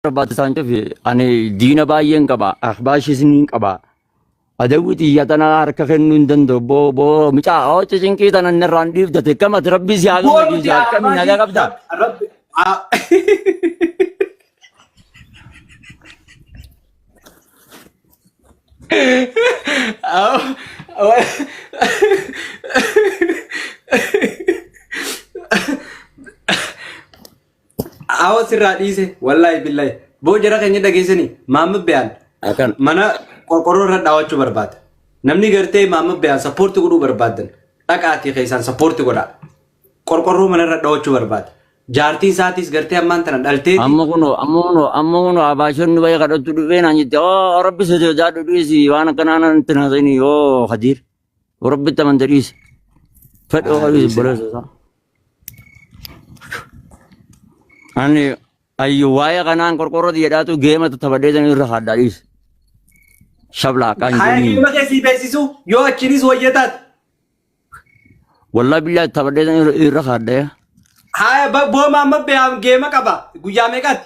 barbaachisaa hin fi ani diina baay'een qaba ahbaashis niin qaba adawwi xiyya tana harka kennuu hin danda'u boo boo mucaa hooci cinqii tana inni irraan dhiibdate kamati rabbii si haa Goonu gammachiisu jaa akkami nagaa Ahbaashii qabda Rabbi haa. Awa sirraa dhiise wallaahi billahi boo jara keenya dhageessanii maamma biyaan Akan. mana qorqorroo irra dhaawachuu barbaada. Namni gartee maamma biyaan sappoorti godhuu barbaadan dhaqaatii keessaan sappoorti godhaa. Qorqorroo mana irra dhaawachuu barbaada. Jaartiin isaatiis gartee ammaan tana dhalteeti. Amma kunoo amma kunoo amma kunoo abaashonni bayee kadhattu dhufee naan jette oo rabbi sosodaadhu dhiisi waan akkanaa natti hin haasa'ini yoo hadiir. Rabbitti amante dhiisi. Fedha Haa waaqayyo dhiisina. obboleessa isaa. Ani ayyu waa'ee kanaan qorqorroti jedhaatu geematu taphadhee san irra haaddaa dhiisi. Shablaa akkaan hin Kaya kenniin. gilma kee sii beeksisu yoo achiinis wayya taate. Wallaa billaa taphadhee san irra- irra haaddaa. Haya ba- booma amma beeyaan geema qaba guyyaa meeqaati?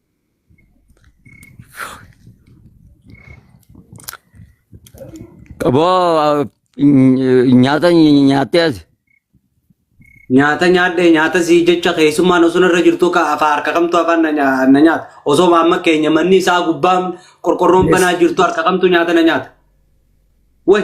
Boo nyaata nyaattee as. Nyaata nyaadhe nyaata sii jecha keessummaan osoo irra jirtu ka afaa harka kamtu afaan na nya- na nyaata. Osoo amma keenya manni isaa gubbaan qorqorroon banaa jirtu harka kamtu nyaata na nyaata. Way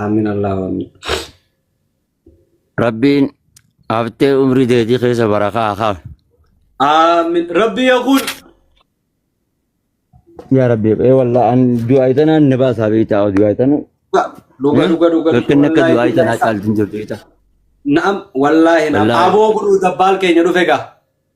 Aamin Allahu Aamin. Rabbiin haftee umrii teetii keessa barakaa haa kaafu. Aamin. Rabbi yaa kun. Yaa Rabbi, ee wallah an du'aa itanaan na baasaa beektaa du'aa itanu. Dhuga dhuga dhuga. Rakkinni akka du'aa itanaa caalti hin jirtu beektaa. Naam wallaahi naam. Wallaahi. Aboo godhuu dabbaal keenya dhufe gaa.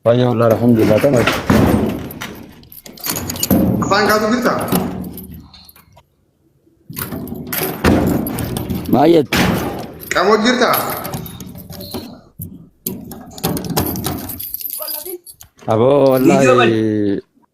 Baay'ee wal'aa alhamdulillah ta'e. Afaan kaatu jirta? Baay'ee Qamoo jirta? aboo Video wallaahi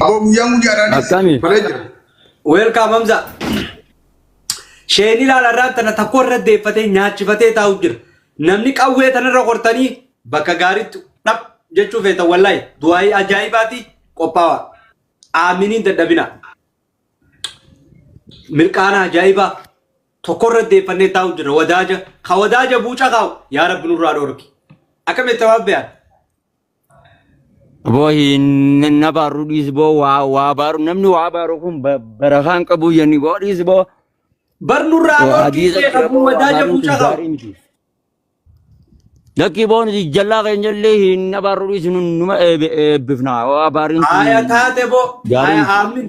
Aboo guyyaan guyyaadhaanis Akkami? balee jira. Weelkaam Hamza. Sheen ilaala irraa tana takko irra deeffatee nyaachifatee taa'u jira. Namni qawwee tanarra qortanii bakka gaariitti dhab jechuu feetan wallaahi du'aayii ajaa'ibaati qophaawa. Aaminiin dadhabina. Mirqaana ajaa'ibaa. tokkorra deeffannee taa'u jirra wadaaja ka wadaaja buuca kaa'u yaa rabbi nurraa dhoorki akkam itti waan beekan Boo hin na baaru dhiis boo waa waa baaru namni waa baaru kun ba- barakaan qabu yanni boo dhiis boo. bar nurraa Boo dhoorki hadiisa beeka jira buu boo waa wadaaja baaruun buuca kun kaa'u gaarii miti. Lakkii boo nuti jallaa keenya illee hin na baaru dhiis nu- numa eebbi- eebbifna waa baariin kun aya taate boo gaarii aya miti. aamin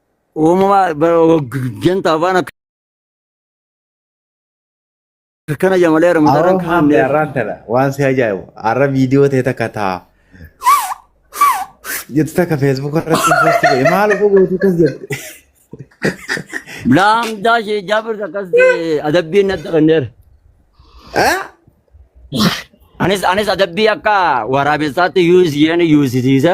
Uumamaa janta afaan akkana jamalee Aroo ramadaran maamne kaanneef. arraan tana waan si ajaa'ibu arra viidiyoo ta'e takka ta'a. Jettu takka feesbuuk irratti posti godhe maal utuu gootu kas jette. Laamdaa ishee jaabir akkas adabbiin natti kenneera. Ah? Anis anis adabbii akka waraabessaatti yuus isheen yuusisiisa.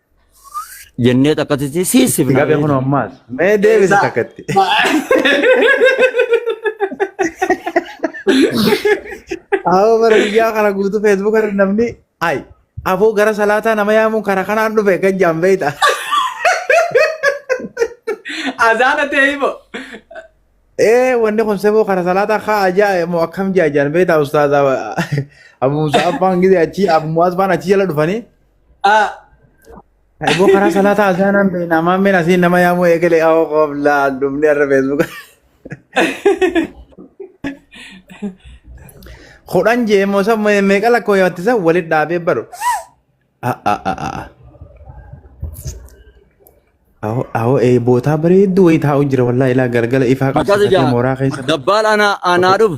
jennee takkatitti siisifna. Gabe kun ammaas. Mee deebisi takkatti. Awoo bara biyyaa kana guutuu feesbuuk irra namni ay afoo gara salaataa nama yaamuun karaa kanaan dhufe kan jaan beeyta. Azaana ta'e himo. Ee wanni kun seboo karaa salaataa kaa ajaa moo akkam jaa jaan beeyta ustaaza Abu Musa Abbaan gidee achi Abu Muaz baan achi jala dhufanii. Ah, Eeboo karaa salaataa azaanaan beekna. Ammaan meen asiin nama yaamuu eegale awoo qooflaa dhumni irra feesbuuka. Kudhan jee immoo san meeqa lakkoo yaatti san walitti dhaabee baru. Awoo eebootaa bareedduu wayii taa'u jira wallaahi ilaa galgala ifaa Akkas qabsiifatee ijaa mooraa keessa. dabbaal anaa anaa dhufu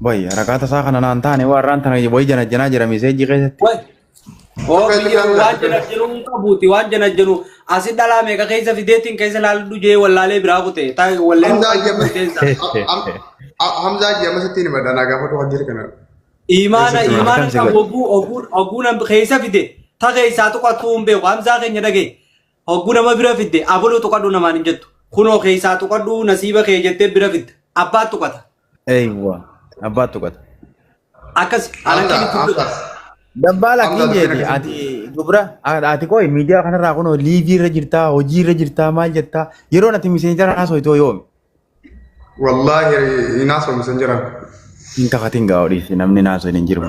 Boy, rakaata isaa kana naan taane waan raan tana boy janajjanaa jira miseejii keessatti. Wai. Oo Akka itti biyya waan laallatu. janajjanu hin qabuuti waan janajjanu asi dhalaa meeqa keessa fideetiin keessa laallu jee wallaalee biraa kute taa wallee Hamzaa jee keessa. Hamzaa jee ammas ittiin himadha naa gaafatu waan jiru kana. Imaana Keessatti waan imaana akkam si qabu godhe. oguu oguu oguu nam keessa fide ta keessaa tuqatuu hin beeku hamzaa keenya dhagee Hogguu nama bira fidde abaluu tuqadhu namaan hin jettu. Kunoo keessaa tuqadhu nasiiba kee jettee bira fidda. Abbaa tuqata. Eeywa. Abbaa tuqata. Akkasi alanqii Akka gidduu akka godha. Dabbaala Amma kiin jeeti gara ati dubra ati qoy miidiyaa kanarraa kunoo liivii irra jirtaa hojii irra jirtaa maal jettaa yeroon ati miseenjara haasoo itoo yoomi Wallaahi hin haasofnu san jiran. Hin kafatin gaa odhiisi namni naasoo hin jiru.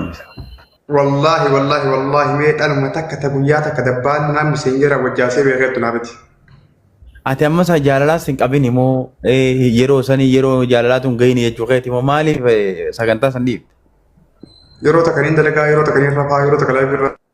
Wallaahi wallaahi wallaahi mee dhaluma takka ta guyyaa takka dabbaan naamni sin jira wajjaasee beekeettu naa biti. Ati amma isaa jaalalaas hin qabin immoo yeroo sanii yeroo jaalalaa tun gahin jechuu keeti immoo maaliif sagantaa san dhiifte? Yeroo takka niin dalagaa yeroo takka niin rafaa yeroo takka laayif irra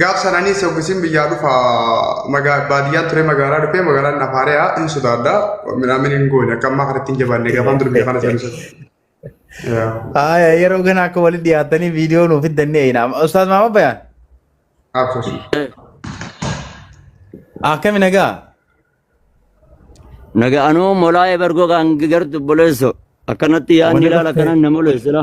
Gaaf sananii soggisiin biyyaa dhufa baadiyyaa ture magaalaa dhufee magaalaan nafaariyaa hin sodaadha. Midhaan hin goone akka ammaa kanatti hin jabaanne gaafaan dur biyya kana seensu. Aya yeroo kana akka walitti dhiyaatanii viidiyoo nuuf fiddannee eeyina. Ustaaz Maamad Bayaan. Absus. Akkami nagaa? Naga anuu molaa'ee bargoo kan gartu boleesso akkanatti yaadni ilaala kanan na moleessila.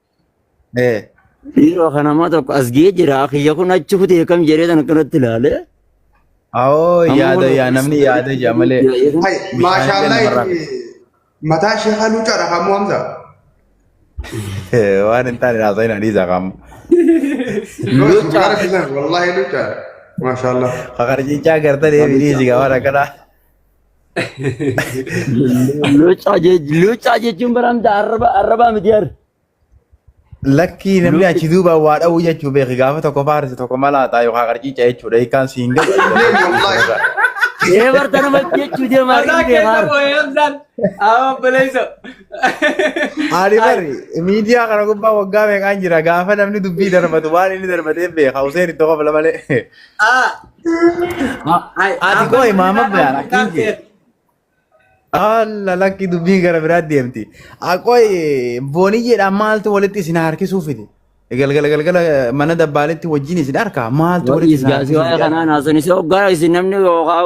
Eh. Dhiiroo kan namaa tokko as ga'ee jira. Kiyya kun achi kutee kam jedhee kan akkanatti ilaale. Awoo Amma yaada kun- yaa namni yaada jaa malee. Hay, maashaallah Bishaan itti mataa ishee halluu cara kamuu hamza. Eh, Waan hin taane haasa'in hadiisa qaama. Yoo cara filan wallahi halluu cara. Maashaallah. Kakarjichaa gartan eebii dhiisi gaa waan akkanaa. Locaa jech- locaa jechuun baramta arraba arrabaa miti har. Lakkii namni Luuti- achi duuba waa dha'uu jechuu beeki gaafa tokko faarsi tokko malaataa yookaan qarciica jechuudha hiikaan siin galu. Ee barta nama jechuu deemaa Mataa hin keessa beekaa. boo'ee hamsaan. Awa obboleessa. Ani bari miidiyaa kana gubbaa waggaa meeqaan jira gaafa namni dubbii darbatu waan inni darbatee beeka Huseen itti kofla malee. Ah. Ay, Ati amma koo imaama miidhaa beekan kan akkiin kee. ta'e. Alla lakki dubbii gara biraa deemti. Aqooy booniyyeedhaan maaltu walitti isin harkisuu fide? Galgala galgala mana dabbaaletti wajjin isin harkaa maaltu walitti Wa'iis isin gaasii harkisuu waa'ee fide? kanaan haasofnise hoggaa isin namni yookaan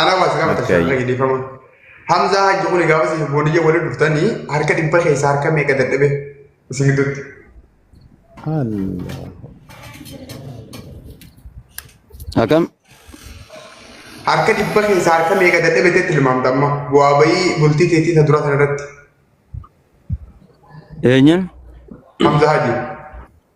Anaa waa si gaafata Akkayyi. shirra dhiifama. Hamzaa hajji kuni gaafa si booniyya waliin dhuftanii harka dhibba keessaa harka meeqa dadhabe isin gidduutti. Allah. Akkam? Harka dhibba keessaa harka meeqa dadhabe teetti tilmaamta amma bu'aa bayii bultii teetii isa duraa sana irratti Eenyuun? Hamzaa hajji.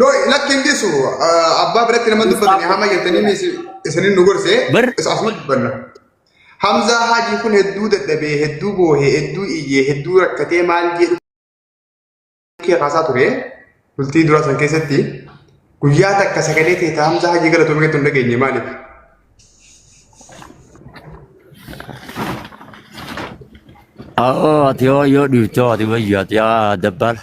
No, lakki hin dhiisu. Ah, Abbaa biratti nama dubbatani hama jettanii is- isinin nu gorse. Bar- Is asuma dubbanna. Hamzaa Haajii kun hedduu dadhabee, hedduu boohee, hedduu iyyee, hedduu rakkatee maal jedhu kee kaasaa ture. Bultii duraa san keessatti guyyaa takka sagalee teeta Hamzaa Haajii galatoomee keetti hin dhageenye maaliif? Oo, ati yoo yoo dhiifte ati wayyu ati yaa dabbaala.